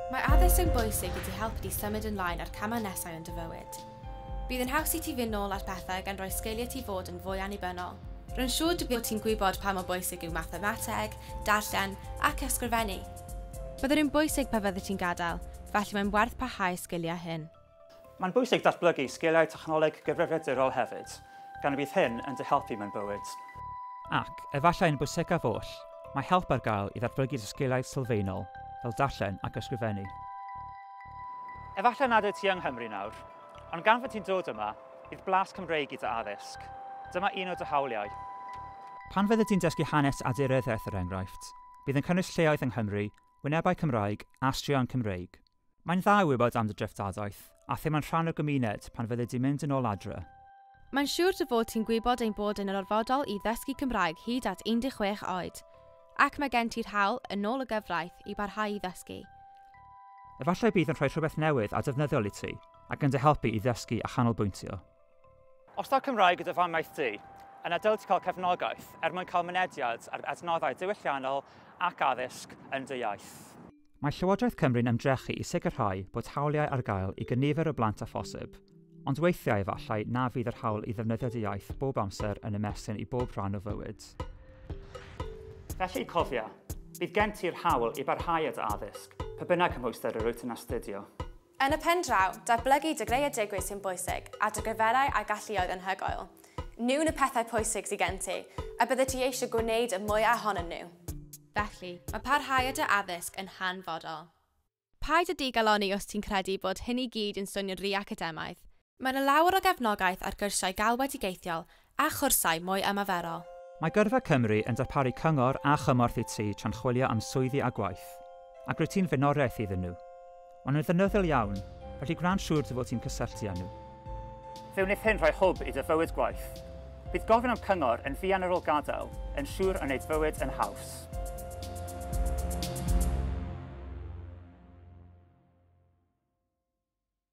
Mae addysg yn bwysig i ti helpu ti symud yn lain ar camau nesau yn dy fywyd. Bydd yn haws i ti fynd nôl ar pethau gan roi sgiliau ti fod yn fwy annibynnol. Rwy'n siŵr dy bod ti'n gwybod pa mor bwysig yw mathemateg, darllen ac ysgrifennu. Bydden nhw'n bwysig pan fyddet ti'n gadael, felly mae'n werth parhau y sgiliau hyn. Mae'n bwysig datblygu sgiliau technoleg gyfrifiadurol hefyd, gan y bydd hyn yn dy helpu mewn bywyd. Ac, efallai yn bwysicaf oll, mae help ar gael i ddatblygu dy sgiliau sylfaenol fel darllen ac ysgrifennu. Efallai nad wyt ti yng Nghymru nawr, ond gan fod ti'n dod yma, bydd blas Cymreig i dy addysg. Dyma un o dy hawliau. Pan fyddi di'n dysgu hanes a dirywiaeth er enghraifft, bydd yn cynnwys lleoedd yng Nghymru, wynebau Cymraeg a straeon Cymreig. Mae'n dda i wybod am dy dreftadaeth, a themau'n rhan o'r gymuned pan fyddi di'n mynd yn ôl adre. Mae'n siŵr dy fod ti'n gwybod ein bod yn orfodol i ddysgu Cymraeg hyd at 16 oed. Ac mae gen ti'r hawl, yn ôl y gyfraith, i barhau i ddysgu. Efallai bydd yn rhoi rhywbeth newydd a defnyddiol i ti, ac yn dy helpu i ddysgu a chanolbwyntio. Os taw Cymraeg yw dy famiaith di, yna dylid cael cefnogaeth er mwyn cael mynediad at adnoddau diwylliannol ac addysg yn dy iaith. Mae Llywodraeth Cymru'n ymdrechu i sicrhau bod hawliau ar gael i gynifer o blant â phosib, ond weithiau efallai na fydd yr hawl i ddefnyddio dy iaith bob amser yn ymestyn i bob rhan o fywyd. Felly, cofia, bydd gen ti'r hawl i barhau â dy addysg, pa bynnag cymhwyster yr wyt yn astudio. Yn y pen draw, datblygu dy greadigrwydd sy'n bwysig a dy gyfwerau a galluoedd anhygoel. Nhw'n y pethau pwysig sydd gen ti, a byddet ti eisiau gwneud y mwyaf ohonyn nhw. Felly, mae parhau â dy addysg yn hanfodol. Paid â digalonni os ti'n credu bod hyn i gyd yn swnio'n rhy academaidd. Mae yna lawer o gefnogaeth ar gyrsiau galwedigaethiol a chwrsau mwy ymaferol. Mae Gyrfa Cymru yn darparu cyngor a chymorth i ti tra'n chwilio am swyddi a gwaith, ac rwyt ti'n flaenoriaeth iddyn nhw. Maen nhw'n ddefnyddiol iawn, felly gwna'n siŵr dy fod ti'n cysylltu â nhw. Fe wneith hyn rhoi hwb i dy fywyd gwaith. Bydd gofyn am cyngor yn fuan ar ôl gadael yn siŵr o wneud bywyd yn haws.